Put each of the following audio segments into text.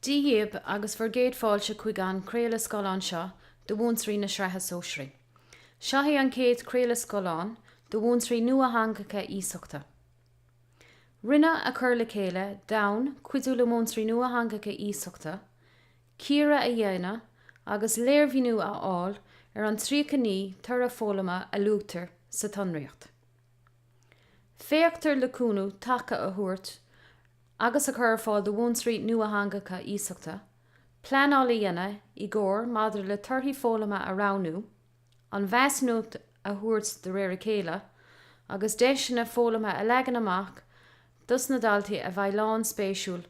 Dia dhíob agus bhur gcéad fáilte chuig an gcraoladh scáileáin seo do mhúinteoirí na Sraithe Sóisearaí. Seo é an chéad chraoladh scáileáin do mhúinteoirí nuatheangacha iasachta. Rinneadh a chur le chéile d'fhonn cuidiú le múinteoirí nuatheangacha iasachta cíoradh a dhéanamh agus léirmhíniú a fháil ar an 39 toradh foghlama a luaitear sa tsonraíocht. Féachtar le cúnamh taca a thabhairt agus a chur ar fáil do mhúinteoirí nuatheangacha iasachta, pleanáil a dhéanamh i gcomhar maidir le torthaí foghlama a roghnú, an mheasúnacht a thabhairt de réir a chéile, agus deiseanna foghlama a leagan amach dos na daltaí a bheidh lánspéisiúil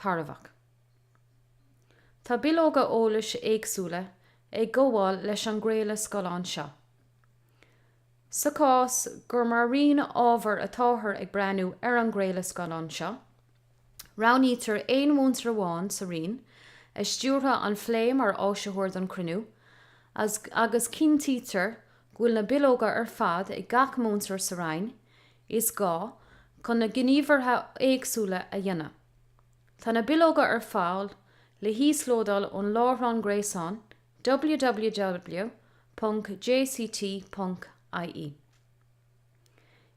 tairbheach. Tá bileoga eolais éagsúla ag gabháil leis an gcraoladh scáileáin seo. Sa chás gur mar roinn ábhair atáthar ag breathnú ar an gcraoladh scáileáin seo, roghnaítear aon mhúinteoir amháin sa roinn a stiúrfaidh an plé mar áisitheoir don chruinniú, agus cinntítear go bhfuil na bileoga ar fad ag gach múinteoir sa roinn is gá chun na gníomhartha éagsúla a dhéanamh. Tá na bileoga ar fáil le híoslódáil ón láithreán gréasáin www.jct.ie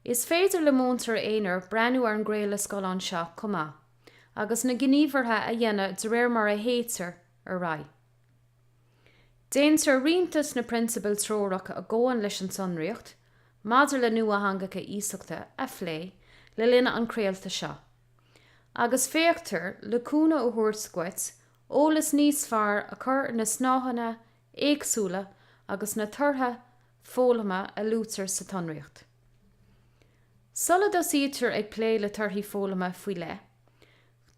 Is féidir le múinteoir aonair breathnú ar an gcraoladh scáileáin seo chomh maith agus na gníomhartha a dhéanamh de réir mar a théitear ar aghaidh. Déantar roinnt de na prionsabail treorach a ghabhann leis an tsonraíocht maidir le nuatheangacha iasachta a phlé le linn an chraolta seo agus féachtar le cúnamh a thabhairt dhuit eolas níos fearr a chur ar na snáitheanna éagsúla agus na torthaí foghlama a luaitear sa tsonraíocht. Sula dtosaítear ag plé le torthaí foghlama faoi leith,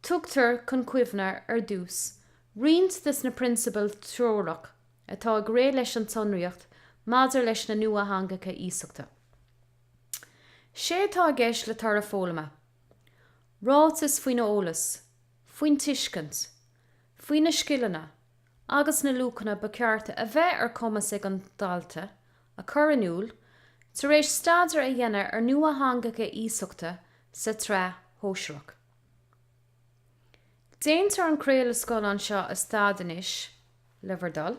tugtar chun cuimhne ar dtús roinnt de na prionsabail treorach atá ag rith leis an tsonraíocht maidir leis na nuatheangacha iasachta. Sé atá i gceist le toradh foghlama, ráiteas faoin eolas, faoin tuiscint, faoi na scileanna agus na luachanna ba cheart a bheith ar chumas ag an dalta a chur in iúl tar éis staidéar a dhéanamh ar nuatheangacha iasachta sa tsraith shóisearach. Déantar an craoladh scáileáin seo a stad anois, le bhur dtoil,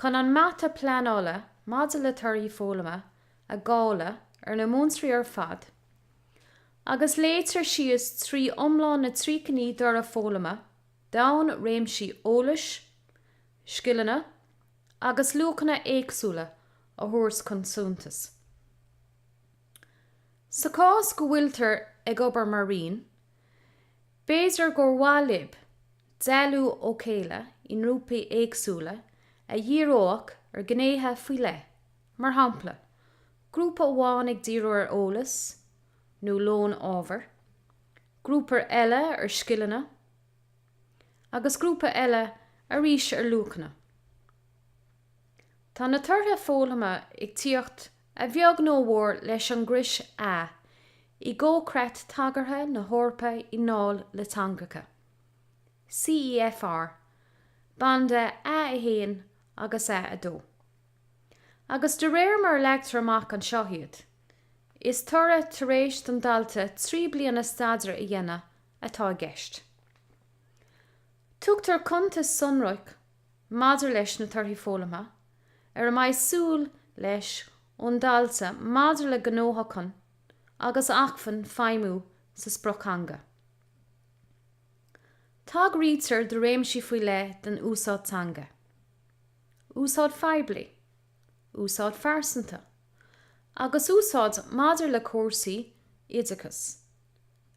chun an mata pleanála maidir le torthaí foghlama a dháil‌eadh ar na múinteoirí ar fad, agus léitear síos trí iomlán na tríocha naoi dtoradh foghlama d'fhonn réimsí eolais, scileanna agus luachanna éagsúla a thabhairt chun suntais. Sa chás go bhfuiltear ag obair mar roinn, b'fhéidir gur mhaith libh dealú ó chéile i ngrúpaí éagsúla a dhíreoidh ar ghnéithe faoi leith, mar shampla, grúpa amháin ag díriú ar eolas nó lón ábhair, grúpa eile ar scileanna, agus grúpa eile arís ar luachanna. Tá na torthaí foghlama ag tíocht a bheag nó a mhór leis an gcrios A i gComhchreat Tagartha na hEorpa i ndáil le Teangacha, CEFR, banda A a 1 agus A a 2, agus de réir mar a leagtar amach an tsonraíocht iad. Is toradh tar éis don dalta trí bliana staidéir a dhéanamh atá i gceist. Tugtar cuntas sonrach maidir leis na torthaí foghlama ar a mbeidh súil leis ón dalta maidir le gnóthachtáil agus acmhainn feidhmiú sa sprioctheanga. Tagraítear do réimsí faoi leith den úsáid teanga, úsáid phoiblí, úsáid phearsanta, agus úsáid maidir le cúrsaí oideachais,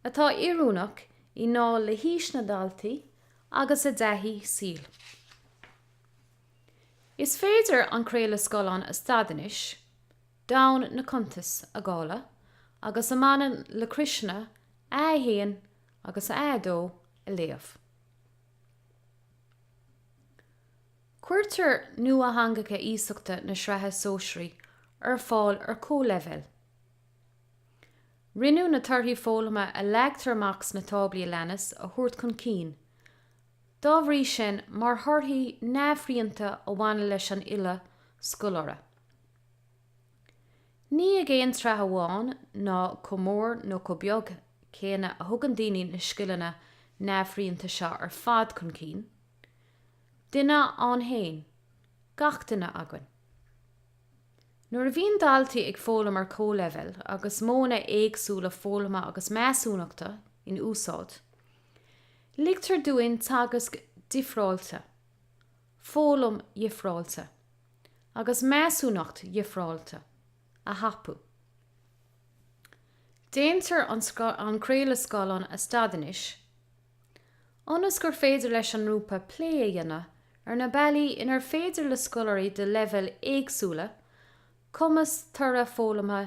atá oiriúnach i ndáil le haois na ndaltaí agus a dtaithí saoil. Is féidir an craoladh scáileáin a stad anois, d'fhonn na cuntais i gcáil agus a mbaineann le criosanna a 1 agus a 2 a léamh. Cuirtear nuatheangacha iasachta na Sraithe Sóisearaí ar fáil ar chomhleibhéal. Rinneadh na torthaí foghlama a leagtar amach sna táblaí a leanas a thabhairt chun cinn, dá bhrí sin, mar thorthaí neamhshrianta a bhaineann leis an uile scoláire, ní ag aon tráth amháin ná chomh mór nó chomh beag céanna a thugann daoine na scileanna neamhshrianta seo ar fad chun cinn. duine ann fhéin, gach duine againn. Nuair a bhíonn daltaí ag foghlaim ar chomhleibhéal agus modhanna éagsúla foghlama agus measúnachta in úsáid, ligtear dúinn teagasc difreáilte, foghlaim dhifreáilte agus measúnacht dhifreáilte a thapú. Déantar an craoladh scáileáin a stad anois. ionas gur féidir leis an ngrúpa plé a dhéanamh ar na bealaí inar féidir le scoláirí de leibhéil éagsúla cumais toradh foghlamtha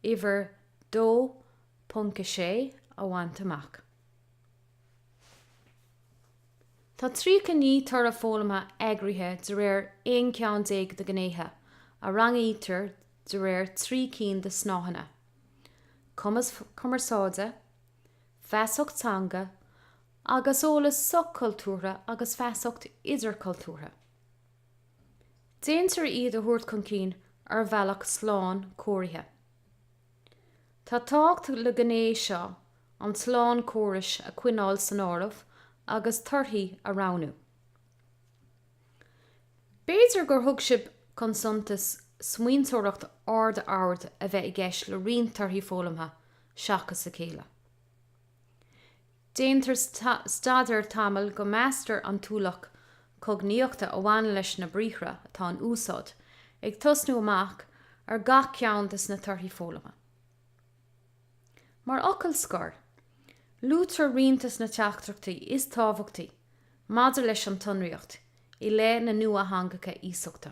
uimhir 2.6 a bhaint amach. Tá 39 toradh foghlamtha eagraithe de réir 11 ceann de ghnéithe a rangaítear de réir trí cinn de snáitheanna, cumas cumarsáide, feasacht teanga agus eolas soch-chultúrtha agus feasacht idirchultúrtha. Déantar iad a thabhairt chun cinn ar bhealach slánchóirithe. Tá tábhacht le gné seo an tslánchórais a choinneáil san áireamh agus torthaí a roghnú. B'fhéidir gur thug sibh chun suntais smaointeoireacht ardoird a bheith i gceist le roinnt torthaí foghlamtha seachas a chéile. Déantar staidéar tamaill go meastar an t-ualach cognaíochta a bhaineann leis na briathra atá in úsáid, ag tosnú amach ar gach ceann de sna torthaí foghlama. Mar fhocal scoir, luaitear roinnt de sna teachtaireachtaí is tábhachtaí maidir leis an tsonraíocht i leith na nuatheangacha iasachta.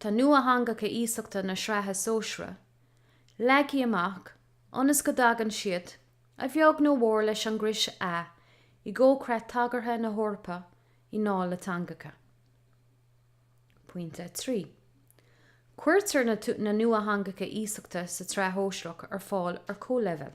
Tá nuatheangacha iasachta na Sraithe Sóisearaí leagtha amach ionas go dtagann siad, a bheag nó a mhór, leis an gcrios A i gComhchreat Tagartha na hEorpa i ndáil le Teangacha. Pointe 3. Cuirtear na nuatheangacha iasachta sa tSraith Shóisearach ar fáil ar chomhleibhéal.